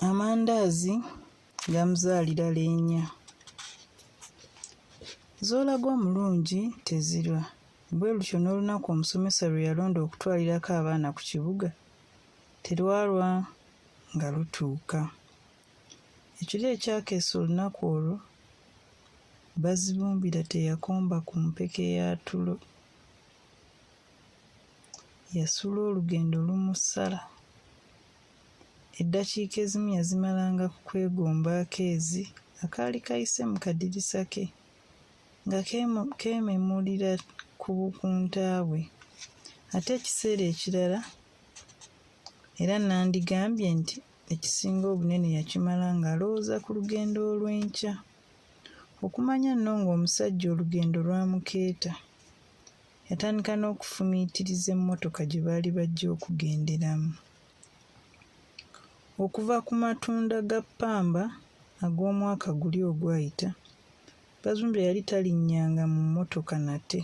amandaazi gamuzaalira leenya z'olaga omulungi tezirwa bwe lutyo n'olunaku omusomesa lwe yalonda okutwalirako abaana ku kibuga terwalwa nga lutuuka ekiro ekyakeesa olunaku olwo bazibumbira teyakomba ku mpeke ya tulo yasula olugendo lumusala eddakiika ezimu yazimalanga ku kwegomba akeezi akaali kayise mu kadirisa ke nga keememulira ku bukunta bwe ate ekiseera ekirala era nandigambye nti ekisinga obunene yakimala ng'alowooza ku lugendo olw'enkya okumanya nno ng'omusajja olugendo lwamukeeta Yatandika n'okufumiitiriza emmotoka gye baali bajja okugenderamu. Okuva ku matunda ga ppamba ag'omwaka guli ogwayita, Bazumbe yali talinnyanga mu mmotoka nate.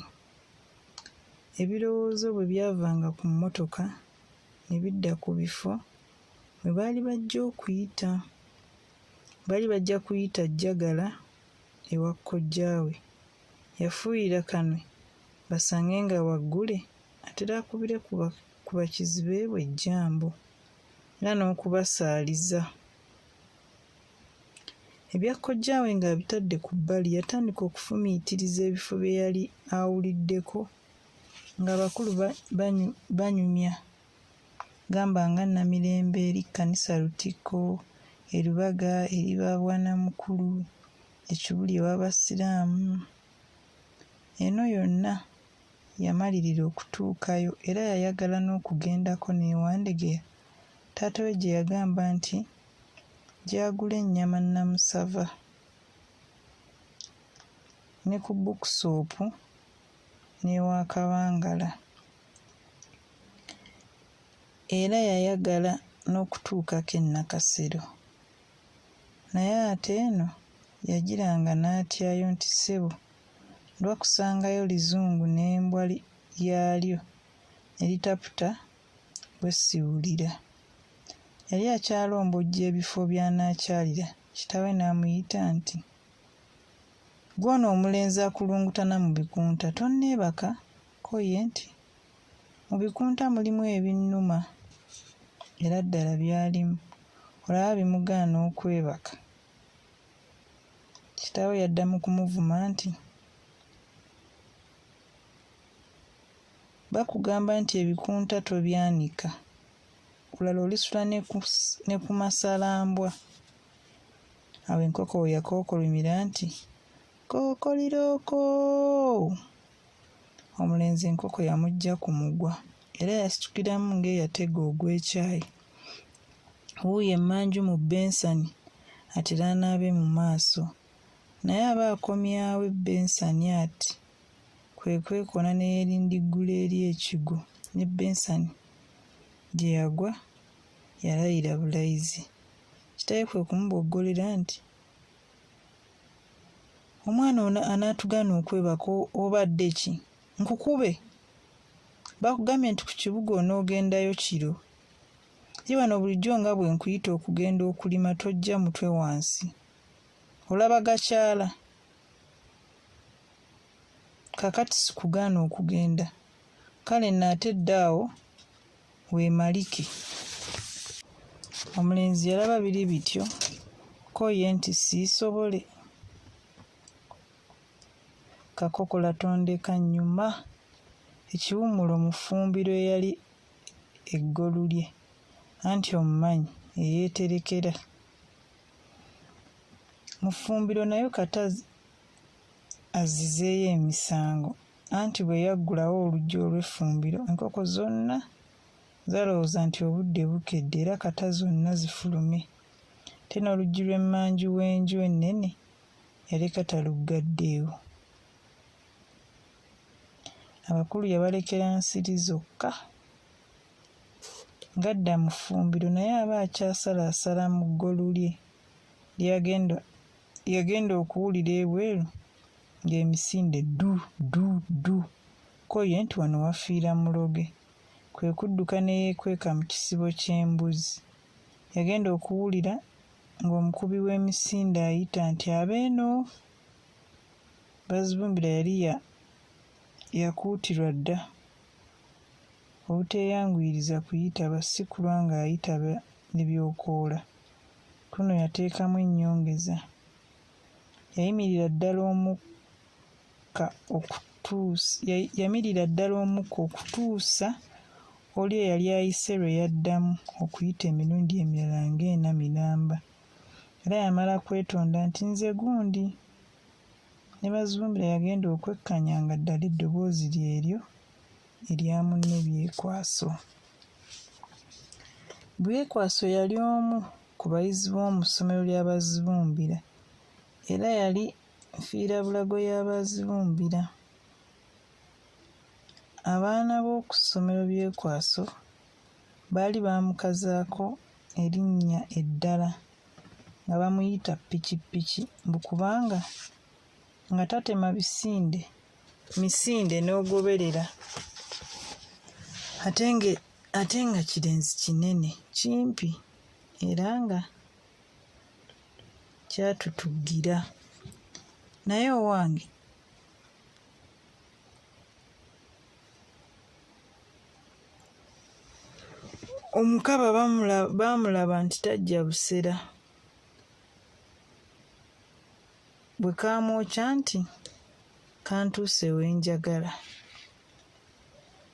Ebirowoozo bwe byavanga ku mmotoka ne bidda ku bifo mwe baali bajja okuyita. Baali bajja kuyita Jjagala ewa kojjaawe yafuuyira Kanwe basange nga waggule atera akubire ku bakizibe bwe ejjambo era n'okubasaaliza. Ebya kojjaawe ng'abitadde ku bbali yatandika okufumiitiriza ebifo bye yali awuliddeko ng'abakulu banyumya gamba nga Namirembe eri kkanisa Lutikko, e Lubaga eri ba Bwanamukulu, ekibuli ew'Abasiraamu. Eno yonna yamalirira okutuukayo era yayagala n'okugendako ne Wandegeya taata we gye yagamba nti gy'agula ennyama nnamusava ne ku bbukusoopu n'ewa Kabangala. Era yayagala n'okutuukako e Nakasero. Naye ate eno yagiranga n'atyayo nti ssebo ndwa kusangayo lizungu n'embwa yaalyo ne litaputa bwe siwulira. Yali akyalombojja ebifo by'anaakyalira kitaawe n'amuyita nti, Gw'ono omulenzi akulungutana mu bikunta tonneebaka? Ko ye nti, Mu bikunta mulimu ebinnuma era ddala byalimu. Olaba bimugaana okwebaka. Kitaawe yadda mu kumuvuma nti, Bakugamba nti ebikunta tobyanika, kulala olisula ne ku masalambwa. Awo enkoko we yakookolomira nti, Kookolirooko! omulenzi enkoko yamujja ku mugwa era yasitukiramu ng'eyatega ogw'ekyayi wuuyo emmanju mu bensani atera anaabe mu maaso naye aba akomyawo ebbensani ati kwe kwekona ne yeerindiggula eri ekigo ne bensani gye yagwa yalayira bulayizi kitawe kwe kumuboggolera nti omwana ono anaatugana okwebaka obadde ki nkukube bakugambye nti ku kibuga onoogendayo kiro ye wano bulijjo nga bwe nkuyita okugenda okulima tojja mutwe wansi olaba gakyala kakati sikugaana okugenda kale naate dda awo weemalike. Omulenzi yalaba biri bityo ko ye nti siisobole. Kakokola tondeka nnyuma. Ekiwummulo mu ffumbiro eyali eggolu lye, anti omumanyi eyeeterekera. Mu ffumbiro nayo kata azzizeeyo emisango. Anti bwe yaggulawo oluggi olw'effumbiro, enkoko zonna zalowooza nti obudde bukedde era kata zonna zifulume. Ate n'oluggi lw'emmanju w'enju ennene yaleka taluggaddeewo. Abakulu yabalekera nsiri zokka. Ng'adda mu ffumbiro naye aba akyasalaasala mu ggolu lye lyagenda okuwulira ebweru ng'emisinde du du du ko ye nti wano wafiira muloge kwe kudduka ne yeekweka mu kisibo ky'embuzi yagenda okuwulira ng'omukubi w'emisinde ayita nti abeeno bazibumbira yali yakuutirwa dda obuteeyanguyiriza kuyitaba si kulwa ng'ayitaba ne byokoola kuno yateekamu ennyongeza yayimirira ddala omukka okutuusa yamirira ddala omukka okutuusa oli eyali ayise lwe yaddamu okuyita emirundi emirala ng'ena miramba era yamala kwetonda nti nze gundi ne bazumbira yagenda okwekkanya nga ddala eddoboozi lyeryo erya munne byekwaso byekwaso yali omu ku bayizi b'omu ssomero lya Bazibumbira era yali nfiirabulago ya Bazibumbira. Abaana b'oku ssomero Byekwaso baali baamukazaako erinnya eddala nga bamuyita Ppikippiki mbu kubanga nga tatema bisinde misinde n'ogoberera ate nga kirenzi kinene kimpi. era nga kyatutugira naye owange omukaba baamulaba nti tajja busera bwe kaamwokya nti kantuuse wenjagala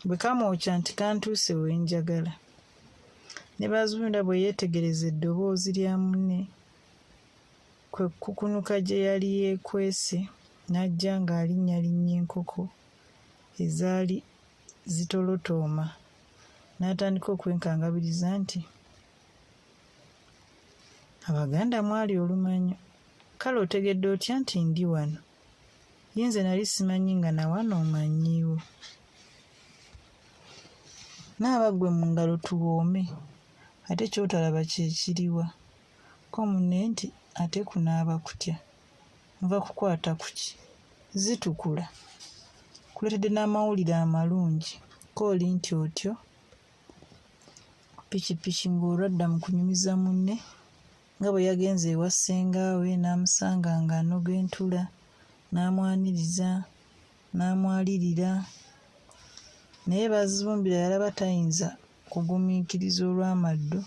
bwe kamwokya nti kantuuse we njagala ne bazunda bwe yeetegereza eddoboozi lya munne kwe kukunuka gye yali yeekwese n'ajja ng'alinnyalinnya enkoko ezaali zitolotooma n'atandika okwenkangabiriza nti abaganda mwali olumanyo kale otegedde otya nti ndi wano ye nze nali simanyi nga nawano omanyiiwo naaba ggwe mu ngalo tuwoome ate kyotalaba kyekiriwa ko munne nti ate kunaaba kutya nva kukwata kuki zitukula kuleetedde n'amawulire amalungi kooli nti otyo pikipiki ng'olwadda mu kunyumiza munne nga bwe yagenze ewa ssengaawe n'amusanga ng'anoga entula n'amwaniriza n'amwalirira naye bazibumbira yalaba tayinza kugumiikiriza olw'amaddu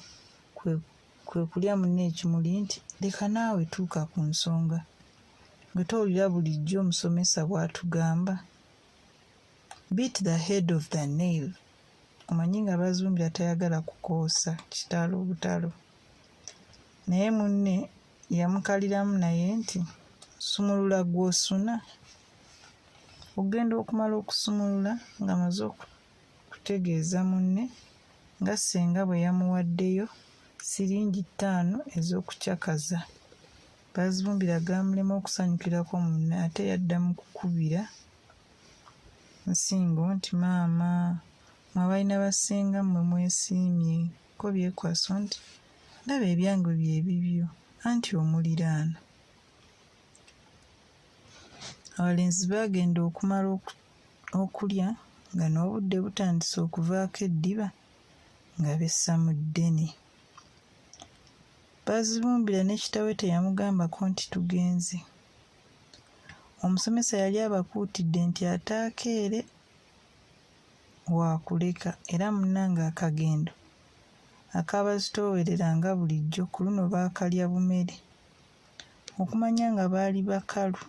kwe kulya munne ekimuli nti leka naawe tuuka ku nsonga gwe towulira bulijjo omusomesa bw'atugamba beat the head of the nail omanyi nga bazumbira tayagala kukoosa kitalo butalo naye munne yamukaliramu naye nti sumulula gwosuna ogenda okumala okusumulula nga maze okutegeeza munne nga senga bwe yamuwaddeyo siringi ttaano ez'okucakaza bazibumbira gamulema okusanyukirako munne ate yadda mu kukubira nsingo nti maama mwabalina basinga mmwe mwesiimye ko byekwaso nti ndaba ebyange bye bibyo anti omuliraano abalenzi baagenda okumala okulya nga n'obudde butandise okuvaako eddiba nga bessa mu ddene baazibumbira ne kitawe teyamugambako nti tugenze omusomesa yali abakuutidde nti ataakeere waakuleka era munnange akagendo akaabazitoowerera nga bulijjo ku luno baakalya bumere okumanya nga baali bakalu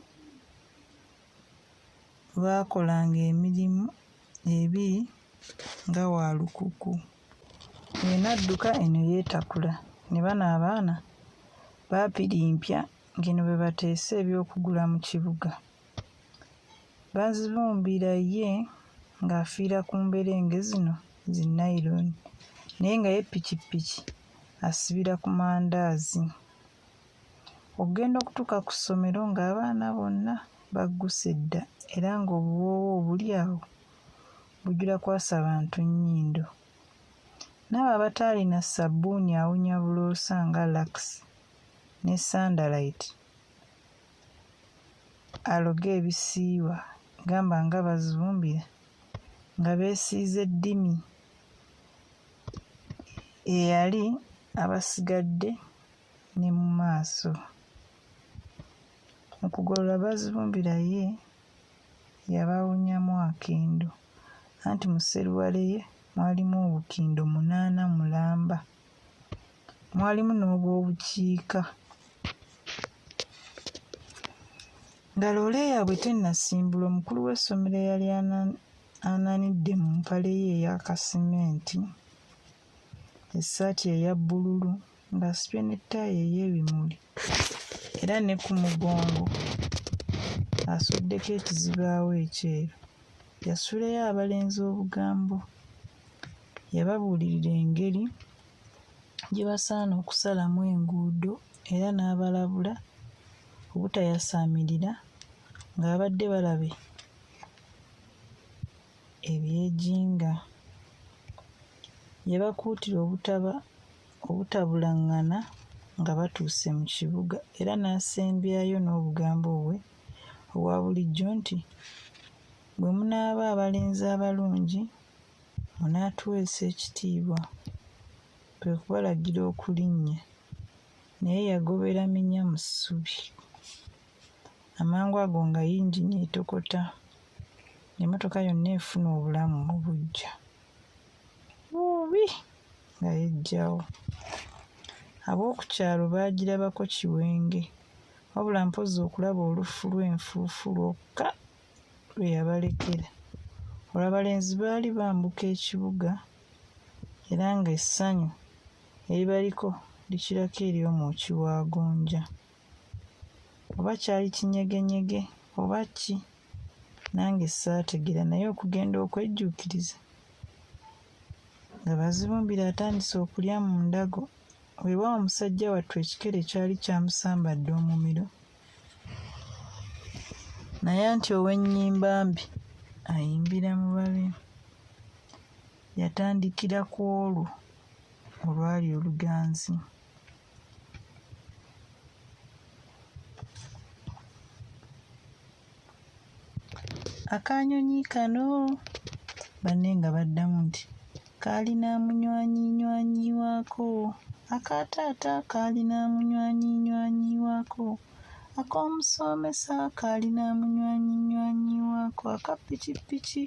baakolanga emirimu ebiri nga wa lukuku eno adduka eno yeetakula ne bano abaana baapirimpya ng'eno bwe bateese eby'okugula mu kibuga. Bazibumbira ye ng'afiira ku mberenge zino zi nayironi naye nga ye pikipiki asibira ku mandaazi. Okugenda okutuuka ku ssomero ng'abaana bonna bagguse dda era ng'obuwoowo obuli awo bujula kwasa bantu nnyindo. N'abo abataalina ssabbuuni awunya buloosa nga Lux. ne Sunderlight aloge ebisiiwa gamba nga Bazumbira nga beesiize ddimi eyali abasigadde ne mu maaso. Mu kugolola Bazumbira ye yabawunyamu akendo anti mu sseruwale ye mwalimu obukindo munaana mulamba. mwalimu n'obwobukiika nga loole yaabwe tennasimbula omukulu w'essomero eyali ananidde mu mpale ye eya kasimenti essaati eya bbululu ng'asibye ne ttaayi ey'ebimuli era ne ku mugongo asuddeko ekizibaawo ekyeru Yasuleyo abalenzi obugambo. Yababuulirira engeri gye basaana okusalamu enguudo era n'abalabula obutayasaamirira ng'abadde balabe ebyejinga. Yabakuutira obutaba obutabulangana nga batuuse mu kibuga era n'asembyayo n'obugambo bwe owa bulijjo nti, Bwe munaaba abalenzi abalungi, munaatuweesa ekitiibwa, kwe kubalagira okulinnya. Naye yagobera minya mu ssubi. Amangu ago nga yingini etokota, emmotoka yonna efuna obulamu mu buggya. Buubi! nga yeggyawo. Ab'oku kyalo baagirabako kiwenge. wabula mpozzi okulaba olufu lw'enfuufu lwokka lwe yabalekera olwabalenzi baali bambuka ekibuga era ng'essanyu eribaliko likirako eri omwoki wa gonja oba kyali kinyegenyege oba ki nange saategera naye okugenda okwejjuukiriza nga bazibumbira atandise okulya mu ndago weewaawo musajja wattu ekikere kyali kyamusambadde omumiro naye anti ow'ennyimba mbi ayimbira mu babi yatandikira ku olwo olwali oluganzi akanyonyi kano banne nga baddamu nti kaalina munywanyinywanyi waako aka taata kaalina munywanyinywanyi waako ak'omusoomesa kaalina munywanyinywanyi waako aka pikipiki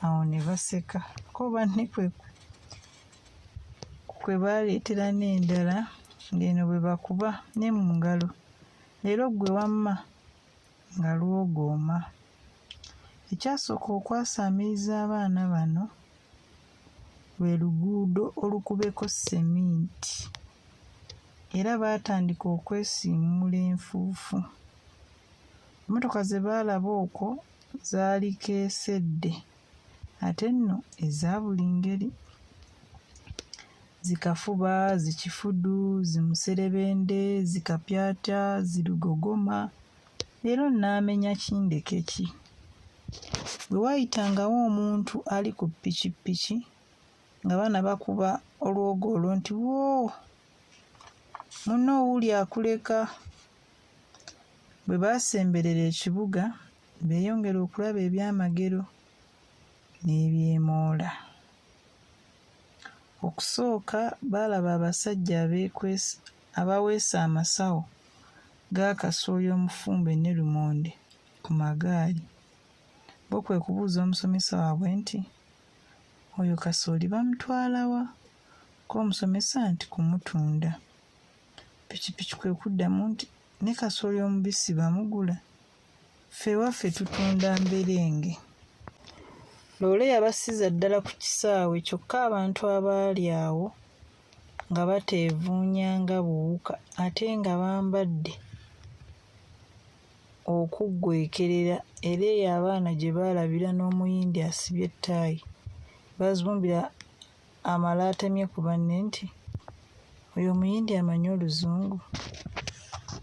awo ne baseka ko banne kwe kwe baaleetera n'endala ng'eno bwe bakuba ne mu ngalo Leero ggwe wamma nga lwogooma. Ekyasooka okwasaamiriza abaana bano lwe luguudo olukubeko seminti era baatandika okwesiimuula enfuufu. Emmotoka ze baalaba okwo zaali keesedde ate nno eza buli ngeri zikafuba zikifudu zimuserebende zikapyata zirugogoma leero nnaamenya kindeke ki bwe waayitangawo omuntu ali ku pikipiki nga baana bakuba olwogo olwo nti woo munno owuuli akuleka bwe baasemberera ekibuga beeyongere okulaba ebyamagero n'ebyemoola. Okusooka baalaba abasajja abaweese amasawo ga kasooli omufumbe ne lumonde ku magaali. Bo kwe kubuuza omusomesa waabwe nti, Oyo kasooli bamutwala wa? Ko omusomesa nti, Kumutunda. Pikipiki kwe kuddamu nti, Ne kasooli omubisi bamugula? ffe waffe tutunda mberenge loole yabasiza ddala ku kisaawe kyokka abantu abaali awo nga bateevuunya nga buwuka ate nga bambadde okuggwekerera era eyo abaana gye baalabira n'omuyindi asibye ettaayi bazumbira amala atemye ku banne nti oyo omuyindi amanyi oluzungu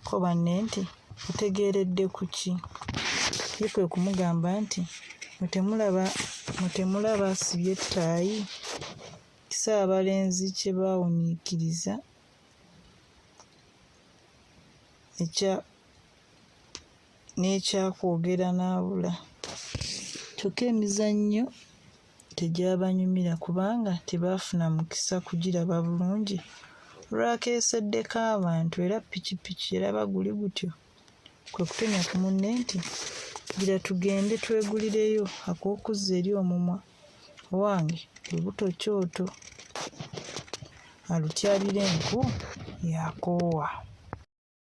ko banne nti otegeeredde ku ki ye kwe kumugamba nti mutemulaba mutemulaba asibye ettaayi kisa abalenzi kye baawuniikiriza ekya n'ekyakwogera n'abula kyokka emizannyo tegyabanyumira kubanga tebaafuna mukisa kugiraba bulungi olwakeeseddeko abantu era pikipiki eraba guli gutyo kwe kutonya ku munne nti gira tugende twegulireyo ak'okuzza eri omumwa owange lubuto kyoto alutyabira enku yakoowa